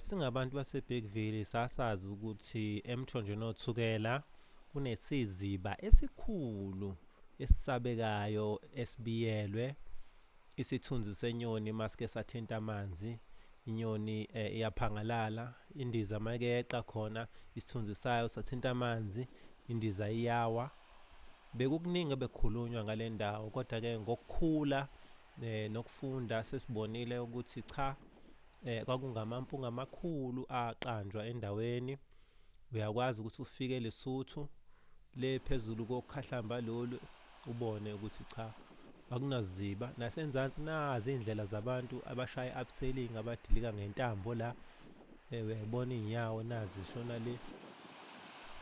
Singabantu baseBergville sasazi ukuthi emthonjeni othukela kunesiziba esikhulu esisabekayo esibiyelwe isithunzi senyoni maske sathinta amanzi inyoni eh, iyaphangalala indiza make yeqa khona isithunzi sayo sathinta amanzi indiza iyawa bekukuningi ebekukhulunywa ngale ndawo kodwa-ke ngokukhula eh, nokufunda sesibonile ukuthi cha eh kwakungamampunga amakhulu aqanjwa endaweni uyakwazi ukuthi ufike lesuthu le phezulu kokhahlamba lolu ubone ukuthi cha akunaziba nasenzansi nazi indlela zabantu abashaya upselling abadilika ngentambo la eh, uyayibona inyawo nazi shona le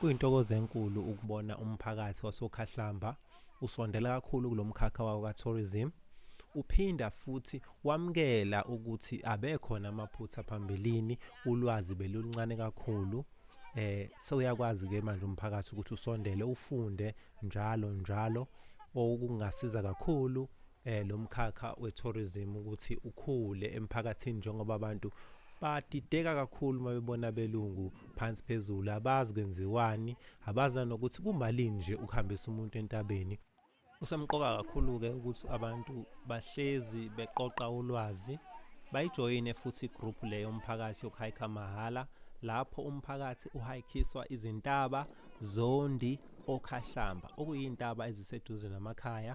Kuyintokozo enkulu ukubona umphakathi wasokhahlamba usondela kakhulu kulo mkhakha wawo ka-tourism, uphinda futhi wamukela ukuthi abekhona amaphutha phambilini, ulwazi beluluncane kakhulu, eh sewuyakwazi-ke manje umphakathi ukuthi usondele ufunde njalo njalo, okungasiza kakhulu eh lo mkhakha we-tourism ukuthi ukhule emphakathini njengoba abantu badideka kakhulu uma bebona belungu phansi phezulu abazi kwenziwani abazi nanokuthi kumalini nje ukuhambisa umuntu entabeni kusemqoka kakhulu-ke ukuthi abantu bahlezi beqoqa ulwazi bayijoyine futhi igroup le yomphakathi yokuhayikha mahhala lapho umphakathi uhayikhiswa izintaba zondi okhahlamba okuyintaba eziseduze namakhaya